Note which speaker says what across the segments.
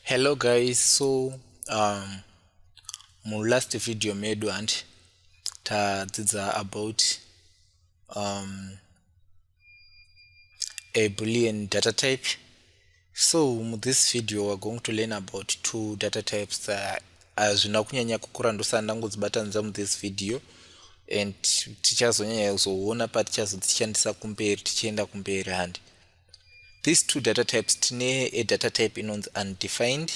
Speaker 1: hello guys so um, mu last video medu and tadzidza about um, a boolean data type So mu this video we're going to learn about two data types that hazvina uh, kunyanya kukura ndosana ndangodzibatanidza mu this video and tichazonyanya kuzoona patichazodzishandisa kumberi tichienda kumberi handi these two data types tine a data type inonzi undefined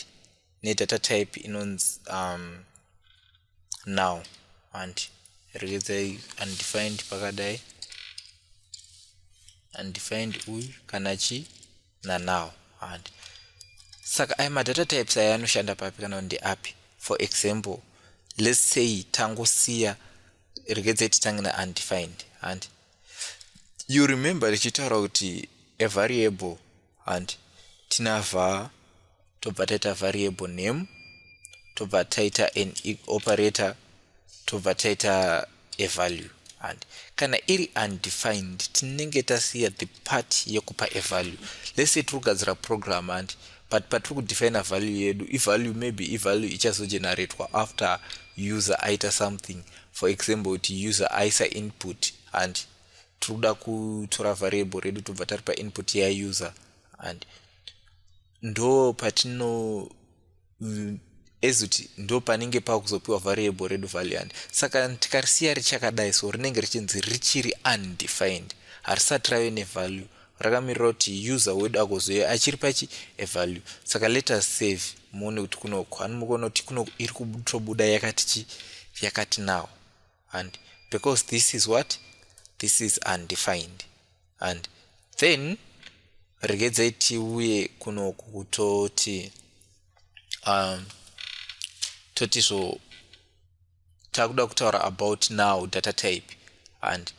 Speaker 1: nedata type inonzi um, now and regedzai undefined pakadai undefined uyu kana chii nanow handi saka aya madata types aya anoshanda papi kana kuti ndeapi for example let's say tangosiya regedzai titange neundefined handi you remember richitaura kuti a variable handi tinavha tobva taita variable name tobva taita an operator tobva taita a value and kana iri undefined tinenge tasiya the part yekupa a value let's say tiri kugadzira program and but patiri kudefina value yedu ivalue maybe ivalue ichazogeneratwa after user aita something for example kuti user aisa input and tiri kuda kutora variable redu tobva taripa input yauser and ndo patino ezoti ndo panenge pakuzopiwa variable redu valiant saka tikarisiya richakadai so rinenge richinzi richiri undefined harisati rave nevalue rakamirira kuti user wedu agozoe achiri pachi evalue saka let us save muone kuti kunoko ani mukuona kuti kuno iri kutobuda yakati chi yakati now and because this is what this is undefined and then regedzai tiuye kuno kutoti um, toti zvo takuda kutaura about now data type and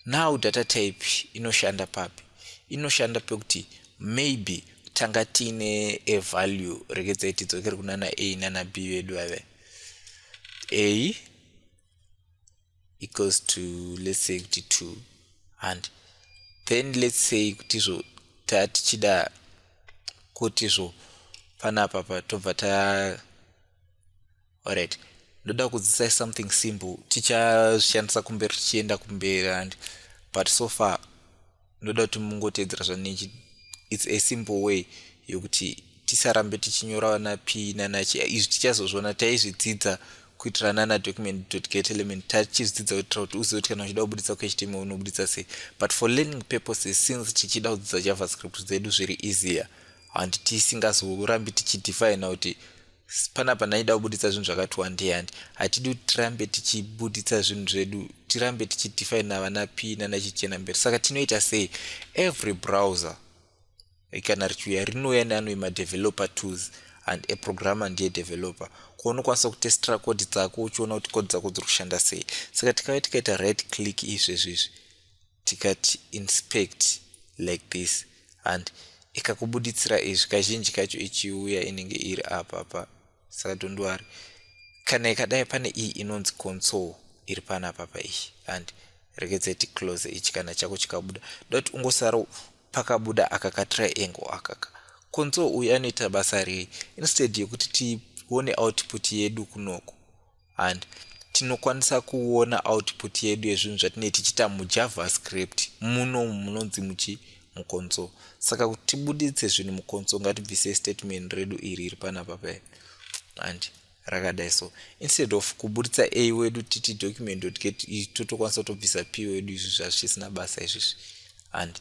Speaker 1: now data type inoshanda papi inoshanda pekuti maybe tanga tiine a value regedzai tidzokere kunana a nana b vedu vave a equals to let's say kuti 2 and then let's say kuti zvo taa tichida kuti zvo panapa patobva ta alright ndoda kudzisai something simple tichazvishandisa kumberi tichienda kumberi and but so far ndoda kuti mungoteedzera zvandinechi its a simple way yokuti tisarambe tichinyora vana p nana chi izvi tichazozviona taizvidzidza kuitira nana document dot get element tachizvidzidza kuitira kuti uzive kuti kana uchida kubuditsa kuhtm unobuditsa sei but for learning purposes since tichida kudzidza javascript dzedu zviri easier handi tisingazorambi tichidefina kuti panapa ndaida kubuditsa zvinhu zvakati wandei handi hatidi kuti tirambe tichibuditsa zvinhu zvedu tirambe tichidefine navana p nanachichena mberi saka tinoita sei every browser kana richiuya rinouya neanoi madeveloper tools and a programmer ndiye developer kwaunokwanisa kutestira kodi dzako uchiona kuti kodi dzako dziri kushanda sei saka tikave tikaita right click izvezvi izvi tikati inspect like this and ikakubuditsira izvi kazhinji kacho ichiuya inenge iri apa pa saka tondiwari kana ikadai pane iyi inonzi console iri pana papa iyi and rekedza iti close ichi kana chako chikabuda dot ungosara pakabuda aka ka triangle akaka console uyu anoita basa rei instead yekuti tione output yedu kunoko and tinokwanisa kuona output yedu yezvinhu zvatinee tichiita mujavascript muno munonzi muchi mukonso saka kuti tibuditse zvinhu mukonso ngatibvise statement redu iri iri panapa pae and rakadai so instead of kubuditsa a wedu titi document get totokwanisa kutobvisa p wedu izvi zvazvisina basa izvizvi and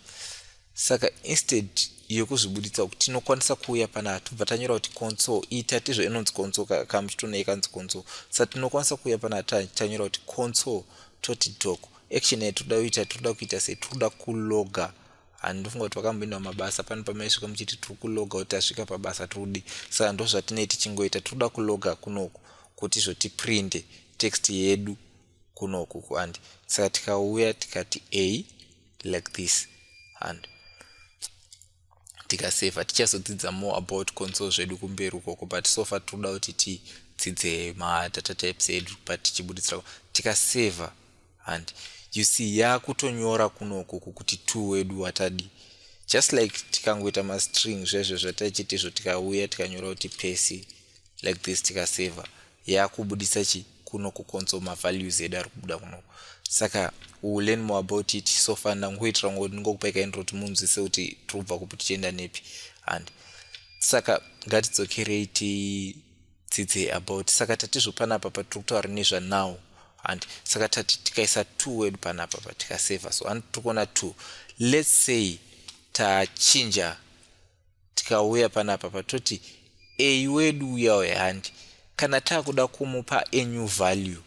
Speaker 1: Saka instead yekuzvibuditsa kuti tinokwanisa kuuya panapa tobva tanyora kuti console iyi tatizvo inonzi console kamuchitona ikanzi console sa tinokwanisa kuuya panapa tanyora kuti console toti doc action yayo toda kuita toda kuita sei toda kuloga handifunga kuti vakamboindawa mabasa pano pamaisvika muchiti tiri kuloga kuti tasvika pabasa todi saka ndo zvatinei tichingoita toda kuloga kunoku kuti izvo tiprinde text yedu kunoku kuandi saka tikauya tikati a like this and tikaseva tichazodzidza more about consol zvedu kumberi ukoko but so far tinoda kuti tidzidze madata types edu but tichibuditsira tikaseva and you see yakutonyora kunoku kukuti two wedu watadi just like tikangoita mastring zvezvo zvataichitizvo tikauya tikanyora kuti pesi like this tikaseva yaakubudisa chi kuno kukonso mavalues edu ari kubuda kuno saka u learn more about it so far ndangoitira ngo ndingokupai kaintro kuti munzwise kuti tiri kubva kupi tichienda nepi and saka ngatidzokerei tidzidze about saka tatizvo panapa patiri kutaura nezvanow and saka tati tikaisa two word panapa patikaseva so ani tiri kuona two let's say tachinja tikauya panapa patoti a wedu uya uya handi kana takuda kumupa a new value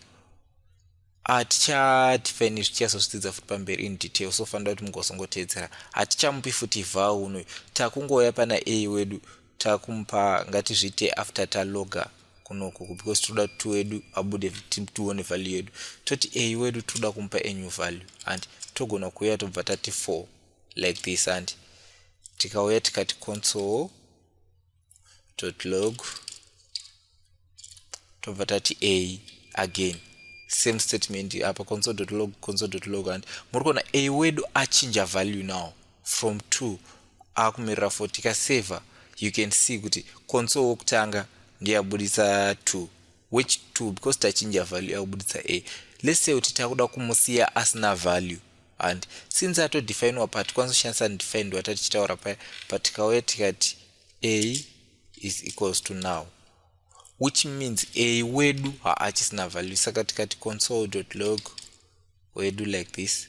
Speaker 1: hatichati paine zvichazozvidzidza futi pamberi in detail so fanira kuti mugozongoteedzera hatichamupi futi vha unoyu takungouya pana a wedu takumupa ngatizviite after taloga kunokuku because tinoda kuti wedu abude tione value yedu toti a wedu tinoda kumupa a new value and togona kuuya tobva tati four like this and tikauya tikati console dot log tobva tati a again same statement apa console dot log console dot log and muri kuona a wedu achinja value now from two akumirira four tikaseva you can see kuti console wokutanga ndiyabudisa two which two because tachinja value yakubuditsa a let's say kuti takuda kumusiya asina value and since atodefinwa pa tikwanisa kushandisa undefined wata tichitaura paya but tikauya tikati a is equals to now which means a wedu haachisina value saka tikati console dot log wedu like this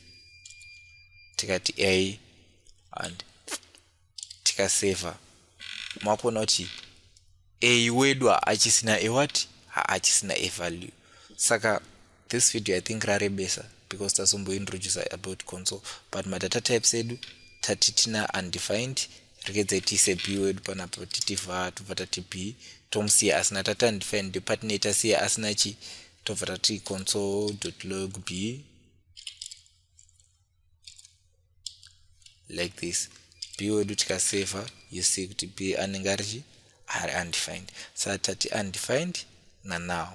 Speaker 1: tikati a and tikaseva makuona kuti a wedu haachisina a what haachisina a value saka this video i think rarebesa because tasombointroduce about console but madata types edu tati tina undefined rekedze tiise b wedu panapo titi va tobva tati b tomusiya asina tati undefined departney tasiya asina chi tobva tati console log b like this b wedu tikaseva you see kuti b anenge arichi ari undefined sa tati undefined na now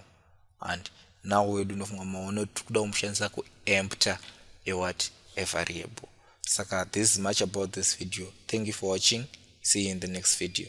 Speaker 1: and now wedu unofunga maona tiri kuda kumushandisa kuempter a what a variable saka this is much about this video thank you for watching see you in the next video